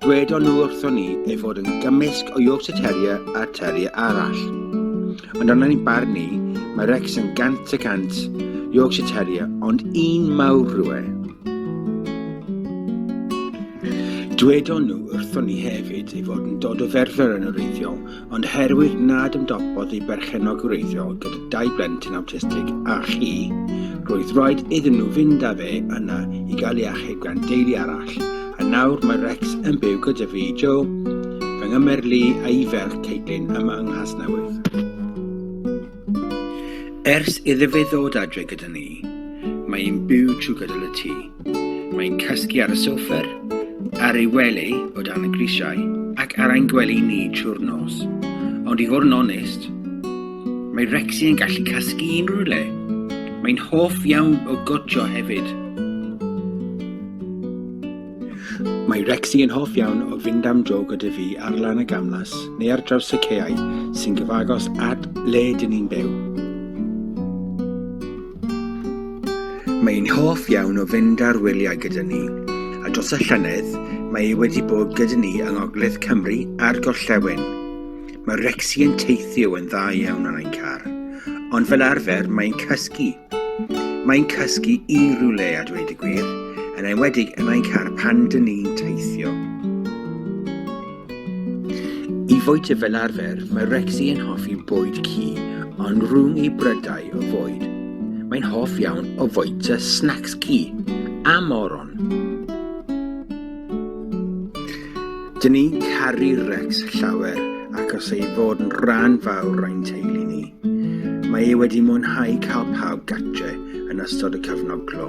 Dwedon nhw wrthon ni ei fod yn gymysg o Yorkshire Terrier a Terrier arall. Ond ond yn barn ni, mae Rex yn gant y cant Yorkshire Terrier, ond un mawr rwe. Dwedon nhw wrthon ni hefyd ei fod yn dod o ferfer yn oreiddiol, ond herwydd nad ymdopodd ei berchennog wreiddiol gyda dau blentyn awtistig a chi, roedd rhaid iddyn nhw fynd â fe yna i gael ei achub gan deulu arall, a nawr mae Rex yn byw gyda fi, Joe, fy nghymer Lee a'i ferch Caitlin yma yng Nghasnewydd. Ers iddo fe ddod adre gyda ni, mae'n byw trwy gydol y tŷ. Mae'n cysgu ar y sofer, ar ei wely o dan y grisiau ac ar ein gwely ni trwy'r nos. Ond i fod yn onest, mae Rexy yn gallu cysgu unrhyw le. Mae'n hoff iawn o gotio hefyd. Mae Rexy yn hoff iawn o fynd am dro gyda fi ar lan y gamlas neu ar draws y ceau sy'n gyfagos at le dyn ni'n byw. Mae hi'n hoff iawn o fynd ar wyliau gyda ni, a dros y llynedd mae hi wedi bod gyda ni yng Ngogledd Cymru a'r Gorllewin. Mae Rexy yn teithio yn dda iawn ar ein car, ond fel arfer mae'n cysgu. Mae'n cysgu i rhywle a dweud y gwir, yn enwedig yn ein car pan dyn ni'n teithio. I fwyty fel arfer, mae Rexy yn hoffi bwyd cu, ond rhwng ei brydau o fwyd, mae'n hoff iawn o fwyta snacks cu a moron. Dyn ni'n caru Rex llawer ac os ei fod yn rhan fawr ein teulu ni. Mae ei wedi mwynhau cael pawb gatre yn ystod y cyfnod glo.